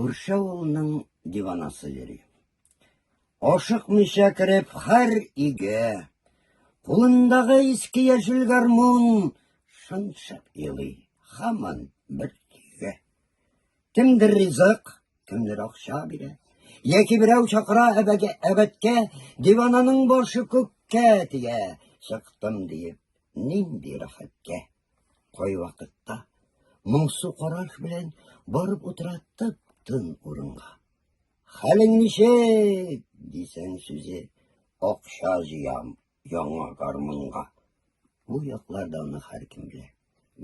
Күрше авылның диванасы йөри. Ашыкмыйча кереп, хәр иге. Кулындагы иске яшел гармун шыншып елый. Хаман бер тиге. Кемдер ризык, кемдер акча бирә. Яки берәү чакыра әбәткә, дивананың башы күккә тия. Чыктым диеп, нинди рәхәткә. Кайвакытта моңсу караш белән барып утыра тып тын урынга. Хәлең ничек? дисәң сүзе акча җыям яңа гармунга. Бу якларда аны һәркем белә.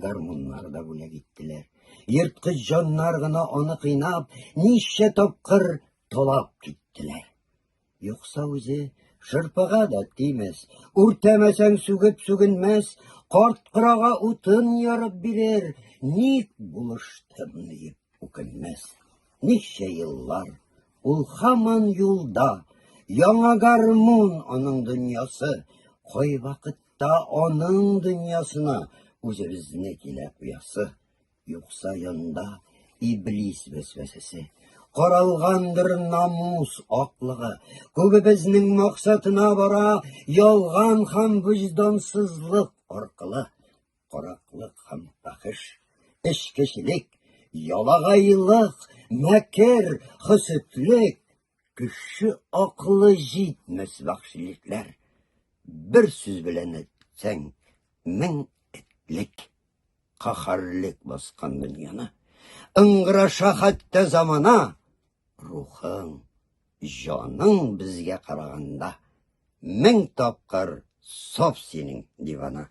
Гармуннар да бүләк иттеләр. Ерткыч җаннар гына аны кыйнап, ничә тапкыр талап киттеләр. Юкса үзе шырпыга да тимәс, үртәмәсәң сүгеп сүгенмәс, карт кырага утын ярып бирер, ник булыштым диеп үкенмәс. Ничә еллар ул хаман юлда, яңа гармун аның дөньясы, кой вакытта аның дөньясына үзебезне килә куясы. Юкса янда иблис вәсвәсәсе, каралгандыр намус аклыгы. Күбебезнең максатына бара ялган һәм виҗдансызлык аркылы караклык һәм фәхеш, эчкечелек, ялагайлык, мәкер, хөсетлек, Кеше акылы җитмәс вәхшилекләр. Бер сүз белән әйтсәң, мең этлек. Каһарлек баскан дөньяны. Ыңгыраша хәтта замана. Рухың, җаның безгә караганда. Мең тапкыр саф синең дивана.